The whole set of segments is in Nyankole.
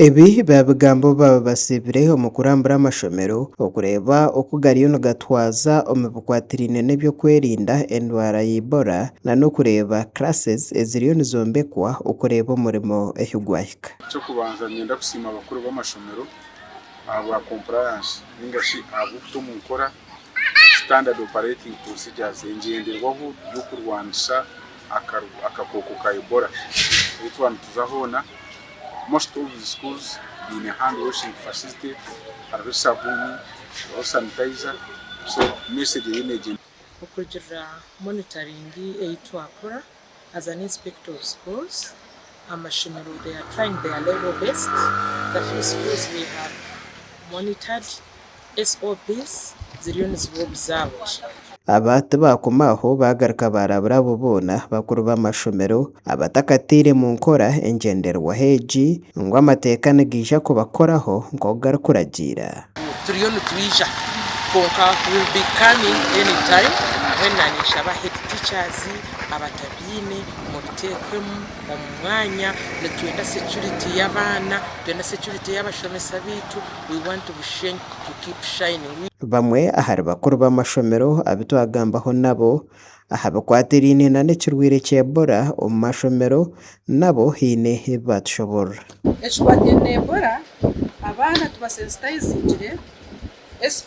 Ebi baabigaamba obu baaba basiibire omu kurambura amashomero okureeba oku gariyo nigatwaza omu bikwatiraine n'eby'okwerinda endwara ya Ebola nana okureeba classes eziriyo nizombekwa okureeba omurimo ahu gwahika. Eky'okubanza niinyenda kusiima abakuru b'amashomero ahabwa compliance nainga shi ahabw'okuta omu nkora standard operating procedures, engyenderwaho y'okurwanisa, akakooko ka Ebola ei twaba nituza hoona, most of the schools baine hand washing facility, hariho esabuuni, hariho sanitizer, so message eriyo neegyenda. Okurugiirira monitoring ei twakora as an inspector of schools, Amashomero they are trying their level best the few schools they have monitored SOPs ziriyo niziba obuzaabo gye. Aba tibaakoma aho baagaruka baarabura abo boona bakuru b'amashomero abatakataire mu nkora engyenderwaho egi ngu amateeka nigaija kubakoraho nk'oku garikuragiira. Turiyo nitwija kwonka we'll be coming any time mbwenu naanye nshaba head teachers, abateebi. ebyine mubitekwemu omumwanya nitwenda security yabaana nitwenda security yabashomesa baitu we want Bushenyi to keep shining. Bamwe ahari bakuru b'amashomero abu twagambaho nabo aha bikwatiraine nana ekirwaire kya Ebola omu mashomero nabo haine ebi baatushoborora. Ekikwatiraine na Ebola, abaana tubasensitizingire.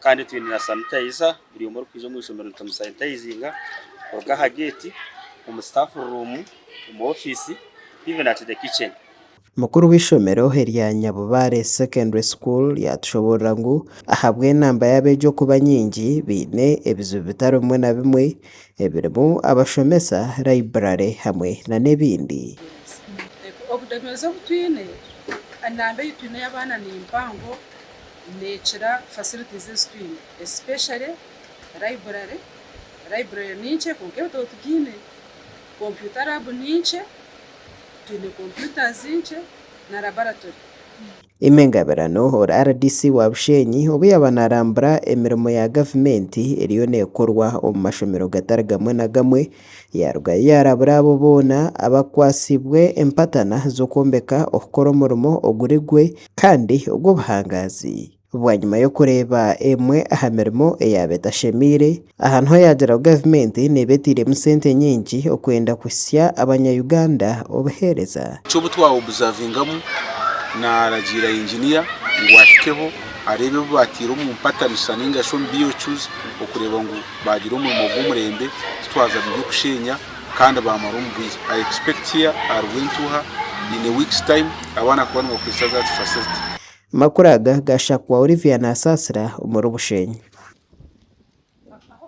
Kandi twine na sanitayiza buri omwe orikwija omu ishomero nitumushanitayizinga kuruga aha geeti, omu sitaafu ruumu, omu ofiisi even at the kitchen. Mukuru w'eishomero erya Nyabubaare Secondary School yaatushoboorora ngu ahabw'enamba y'abeegi okuba nyingi, baine ebizibu bitari bimwe na bimwe ebirimu abashomesa, layiburare hamwe nana ebindi. Oburemeezi obu twine, enamba ei twine ey'abaana ni mpango. Neekira facilities ezi twine especially library, library ni nkye kwonka ebitabo tibyine, computer lab ni nkye twine computers nkye na laboratory. Aimée Ngabirano ori rdc wa Busheenyi obu yaaba naarambura emirimo ya gavumenti eriyo neekorwa omu mashomero gatari gamwe na gamwe Yaarugayo yaarabura abo boona abakwatsibwe empatana z'okwombeka okukora omurimo oguri gwe kandi ogw'obuhangaazi. Bwanyima y'okureeba emwe aha mirimo eyaaba etashemeire, aha niho yaagira ngu gavumenti neeba eteiremu sente nyingi okwenda kuhitsya Abanya-Uganda obuheereza. Ky'obu twaobuzavingamu, naaragiira yinginiya ngu ahikeho areebe ebi baataire omu mpatanisa nainga shi omu BOQs okureeba ngu Baagira omurimo gw'omurembe titwaza by'okusheenya kandi baamara omu bwire. I expect here a Rwentuha in a week's time abaana kuba nibakoresa that facility. Amakuru aga gaashakwa Olivia Nasaasira omuri Bushenyi.